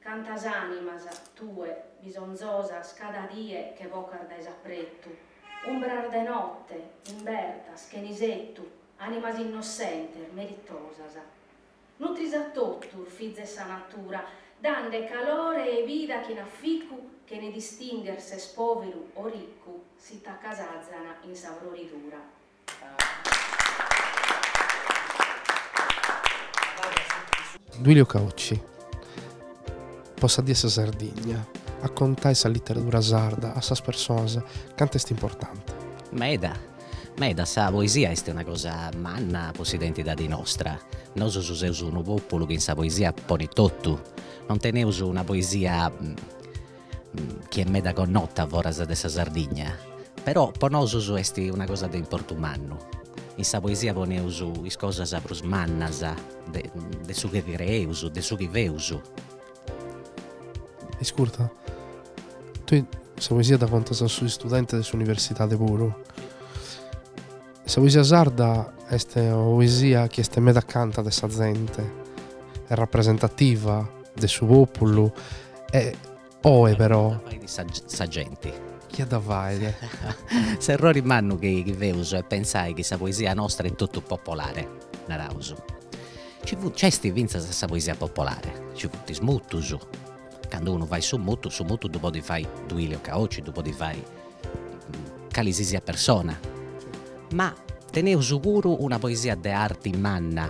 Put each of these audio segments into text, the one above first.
Cantas animas, tue, bisonzosas cada die che vocas dae s'apretu, umbras de notte, imbertas, chene isettu, animas innossentes, meritosas. Nutris a totus, fiza 'e sa natura, dande calore e vida chin aficu, chene distingher s'est poveru o ricu, si t'accasazan in sa froridura. Duilio Caocci po sa Die 'e sa Sardigna a contai sa literadura sarda a sas personas cant'est importante. Meda. Meda, sa poesia est una cosa manna po s'identidadi nostra. Nosus seus unu populu chi in sa poesia ponit totu. Non teneus una poesia chi est meda connota foras de sa Sardigna, però po nosus est una cosa de importu mannu. In sa poesia poneus is cosas prus mannas de su chi creeus, de su chi feus. Iscurta, tue sa poesia dda contas a sos istudentes de s'universidade puru. Sa poesia sarda est una poesia chi est meda acanta de sa zente, est rapresentativa de su populu e oe però. De sa genti chi dda fait. S'errori mannu chi feus est pensai chi sa poesia nostra est totu popolare, naraus. Ci funt, nci est fintzas sa poesia popolare, nci funt is mutus, candu unu fait su mutu, su mutu ddu podit fai Duilio Caocci, ddu podit fai calisisiat persona, ma teneus puru una poesia de arti manna,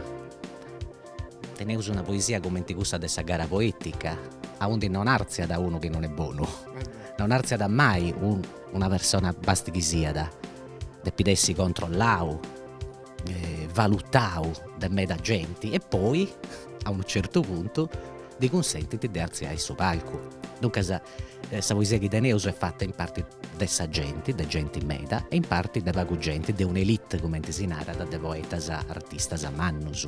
teneus una poesia cumenti cussa de sa gara poetica, aundi non artziat unu chi non est bonu, non artziat mai una persona basti chi siat, depit essi controllau valutau de meda genti e poi a unu certu puntu ddi cunsentint de artziai su palcu. Duncas sa poesia chi teneus est fata in parti de sa genti, de genti meda e in parti de pagu genti, de un'elite cumenti si narat de poetas artistas mannus.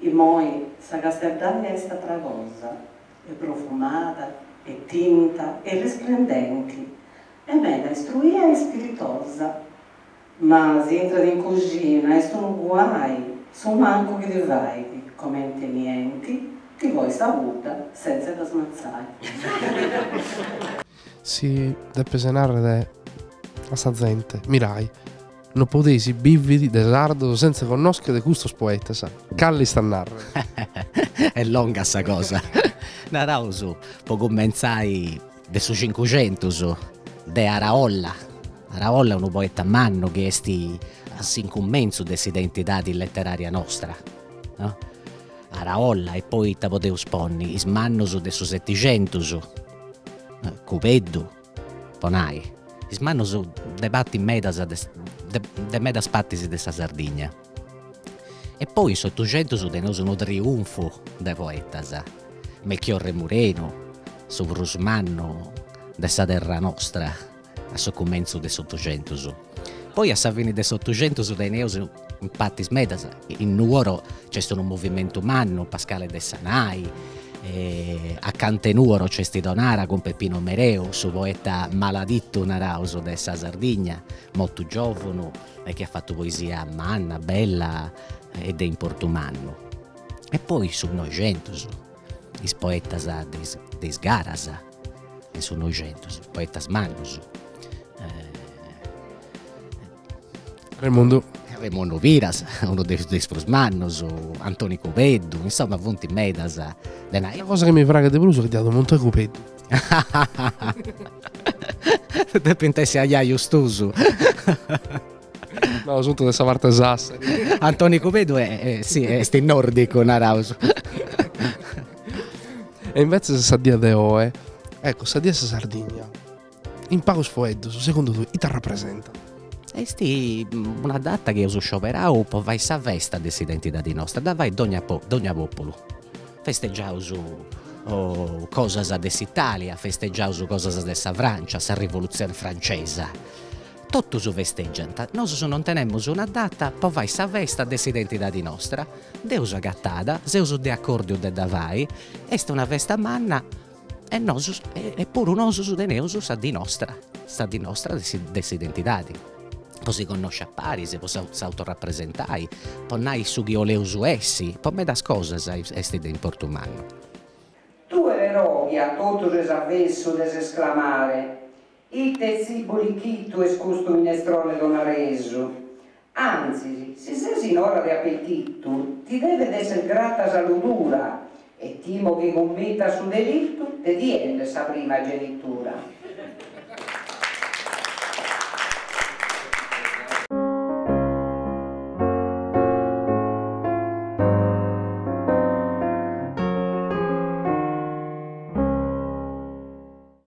Immoi sa casteddaia est atra cosa, est profumada, est tinta, est risplendenti, est meda istruia e ispiritosa. Ma si intrat in coxina est unu guai, su mancu chi ti fait, comente nienti, ti coit sa pudda sentz'e dda smatzai. Si depes narrere a sa zente, mirai, no podeis biviri de sardos sentza connoschere custos poetas, cale est a narrere? Est longa sa cosa. Naraus, po cumentzai, de su cincuxentus, de Araolla. Araolla est unu poeta mannu chi est a s'incumentzu de s'identidadi letteraria nostra. Araolla e poi ita podeus ponni is mannus de su setixentus. Cubeddu po nai, is mannus de parti medas de medas partis de sa Sardigna e poi in s'otuxentus teneus unu triunfu de poetas, Melchiorre Murenu su prus mannu de sa terra nostra a su cumentzu de s'Otuxentus. Poi a sa fini de s'Otuxentus teneus in partis medas, in Nuoro nc'est unu movimentu mannu, Pascale Dessanai, acanta 'e Nuoro nc'est Tonara cun Peppino Mereu, su poeta maladitu naraus de sa Sardigna, mortu giovunu e chi at fatu poesia manna, bella e de importu mannu. E poi su Noixentus, is poetas de is de is garas, in su Noixentus, poetas mannos. Remundu. Remundu Piras, unu de is de is prus mannos, Antoni Cubeddu, insoma funt medas de nai. Sa cosa chi mi praxit de prus est chi deu ddu monto a Cubeddu. Depint essi aiaius tuus. No, sunt de sa parti de Sassari. Antoni Cubeddu est in nordicu naraus. E invetzes sa die de oe, ecco, sa die 'e sa Sardigna, in pagus foeddos, segundu tue, ite rapresentat? Est una data chi eus scioberau po fai sa festa de s'identidadi nostra, dda fait dogna dogna populu. Festeggiaus cosas de s'Italia, festeggiaus cosas de sa Francia, sa rivolutzioni francesa, Totus festègiant, nosus non tenemus una data po fai sa festa de s'identidadi nostra, dd'eus agatada, seus de acòrdiu de dda fai, est una festa manna e nosus e puru nosus teneus sa dì nostra, sa dì nostra de s'identidadi, po si connosci a paris, po s'autorapresentai, po nai su chi 'oleus essi, po medas cosas est de importu mannu. Tue però a totu ses avesu des esclamare, Ite tzibu lichitu est custu minestrone tonaresu! Antzis, si ses in ora de apetitu, ti devet esser grata sa ludura e timo chi cummitas su delitu de ti 'ende sa primagenitura.